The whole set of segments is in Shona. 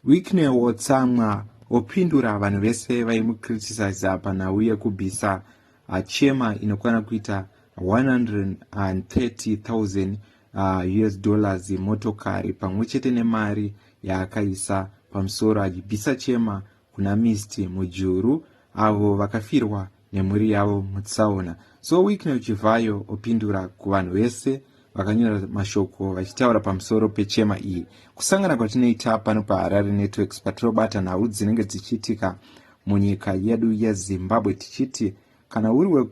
Wicknell wotsamwa wopindura vanhu vese vaimucriticiza panhau yekubisa achema inokwana kuita 130,000 uh, us dollars yemotokari pamwe chete nemari yaakaisa pamusoro achibisa chema kuna mist mujuru avo vakafirwa nemhuri yavo mutsaona so wicknel chivhayo opindura kuvanhu vese vakanyora mashoko vachitaura pamusoro pechema iyi kusangana kwatinoita pano paharare networks patinobata nhau dzinenge dzichiitika munyika yedu yezimbabwe tichiti kana uri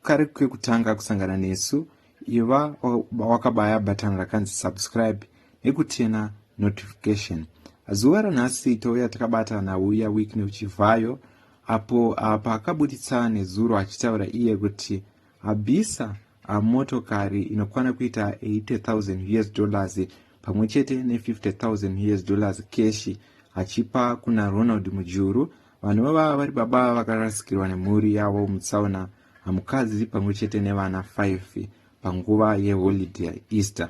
kare kekutanga kusangana nesu iva wakabaya bhatani rakanzi subscribe nekutena notification zuva ranhasi touya takabata nauya week neuchivhayo apo ah, paakabuditsa nezuro achitaura iye kuti abisa ah, motokari inokwana kuita 80000 us dollars pamwe chete ne 50000 us dollars keshi achipa kuna ronald mujuru Vanhu vava vari baba vakarasikirwa nemhuri yavo mutsaona hamukadzi pamwe chete nevana 5 panguva yeholidhe yaeaster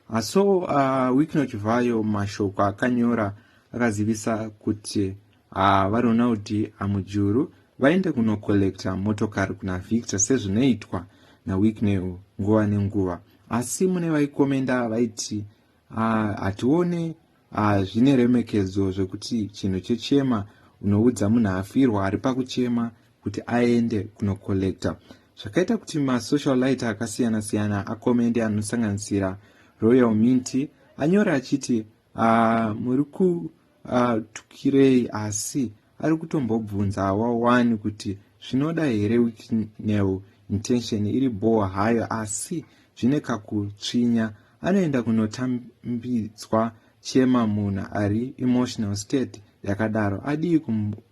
aso uh, wikno chivhayo mashoko akanyora akazivisa kuti uh, varonald amujuru vaende kunokollekta motokari kuna victor sezvinoitwa nawiknel nguva nenguva asi mune vaikomenda vaiti uh, hatione Ah zvine remekedzo zvekuti chinhu chechema unoudza munhu afirwa ari pakuchema kuti aende kunocollector zvakaita kuti masocial lighter akasiyana siyana akomende anosanganisira royal minty anyora achiti ah, muri kutukirei ah, asi ari kutombobvunzawa wani kuti zvinoda here wiknel intention iri bhowa hayo asi zvine kakutsvinya anoenda kunotambidzwa chema munhu ari emotional state yakadaro adii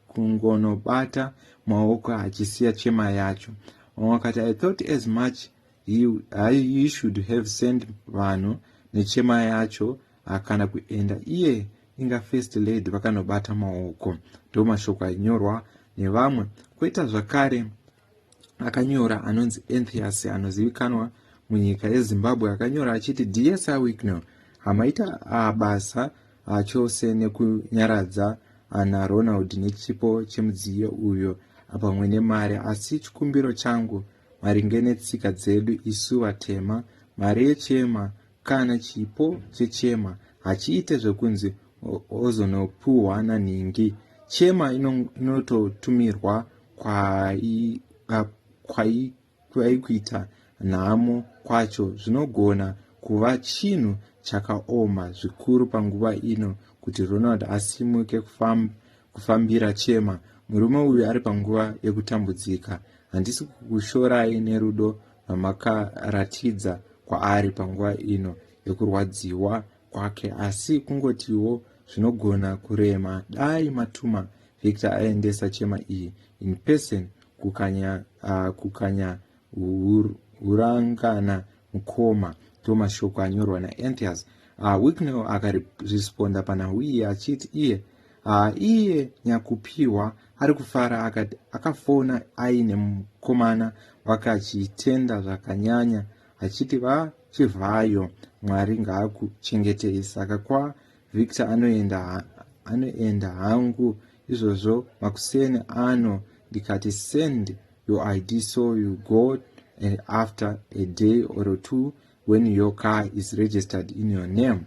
kungonobata maoko achisiya chema yacho wakati i thought as much He, hai he should have sent vanhu nechema yacho hakana kuenda iye inga first lady vakanobata maoko ndo mashoko ainyorwa nevamwe koita zvakare akanyora anonzi enthias anozivikanwa munyika yezimbabwe akanyora achiti dsr wicknel hamaita abasa achose nekunyaradza ana ronald nechipo chemudziyo uyo pamwe nemari asi chikumbiro changu Maringe netsika dzedu isu vatema, mari yechema kana chipo chechema hachiite zvekunzi ozonopuhwa nanhingi. Chema inototumirwa kwaikuita nhamo kwacho zvinogona kuva chinhu chakaoma zvikuru panguva ino kuti Ronald asimuke kufamba kufambira chema murume uyu ari panguva yekutambudzika handisi kukushorai nerudo rwamakaratidza kwaari panguva ino yekurwadziwa kwake asi kungotiwo zvinogona kurema dai matuma victor aendesa chema iyi in person kukanya, uh, kukanya Hurangana mkoma to mashoko anyorwa naEnthias ah, Wicknell akaresponda panhau iye achiti iye ah, iye Nyakupiwa ari kufara akati akafona aine mukomana wake achitenda zvakanyanya achiti vachivhayo Mwari ngaakuchengetei saka kwa Victor anoenda anoenda hangu izvozvo makuseni ano ndikati send your id so you go and after a day or two when your car is registered in your name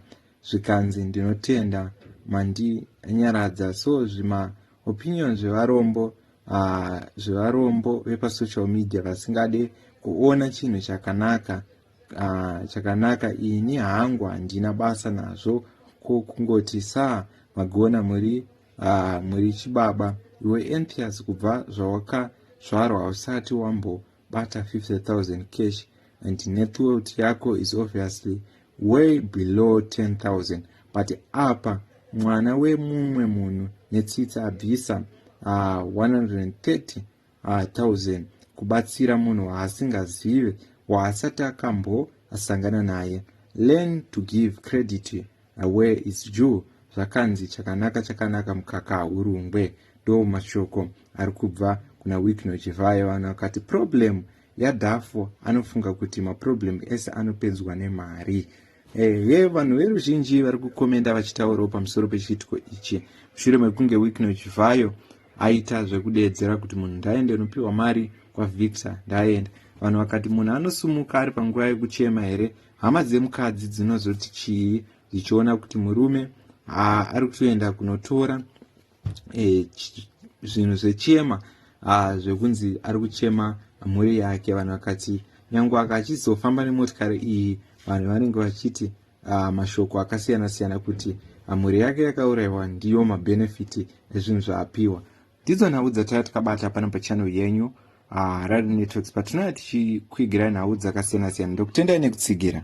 zvikanzi ndinotenda mandinyaradza so zvima opinion zvevarombo uh, zvevarombo vepasocial media vasingade kuona chinhu chakanaka Ah, chakanaka ini hangu handina basa nazvo ko kungoti sa magona muri ah, muri chibaba iwe enthias kubva zvawakazvarwa hausati wambobata 50000 cash and net worth yako is obviously way below 10000 but apa mwana wemumwe munhu netsitsi abvisa ah, 130 Ah, Thousand, kubatsira munhu waasingazive waasati akambo asangana naye. Learn to give credit where is due zvakanzi chakanaka chakanaka mukaka haurungwe ndo mashoko ari kubva kuna wikno chivhayo vanhu vakati problem yadhafo anofunga kuti maproblem ese anopedzwa nemari ehe vanhu veruzhinji vari kukomenda vachitaurawo pamusoro pechiitiko ichi mushure mekunge wikno chivhayo Aita zvekudeedzera kuti munhu ndaende ndopihwa mari kwaVictor ndaenda. Vanhu vakati munhu anosumuka ari panguva yekuchema here? Hama dzemukadzi dzinozoti chii dzichiona kuti murume haa ari kutoenda kunotora e, zvinhu zvechema haa zvekunzi ari kuchema mhuri yake. Vanhu vakati nyange akachizofamba nemotokari iyi vanhu vanenge vachiti uh, mashoko akasiyana siyana kuti ah, mhuri yake yakaurayiwa ndiyo mabhenefiti ezvinhu zvaapiwa ndidzo nhau dzataiva tikabata pano pachannel yenyu uh, rad networks patinouya tichikuigirai nhau dzakasiyana siyana ndokutendai nekutsigira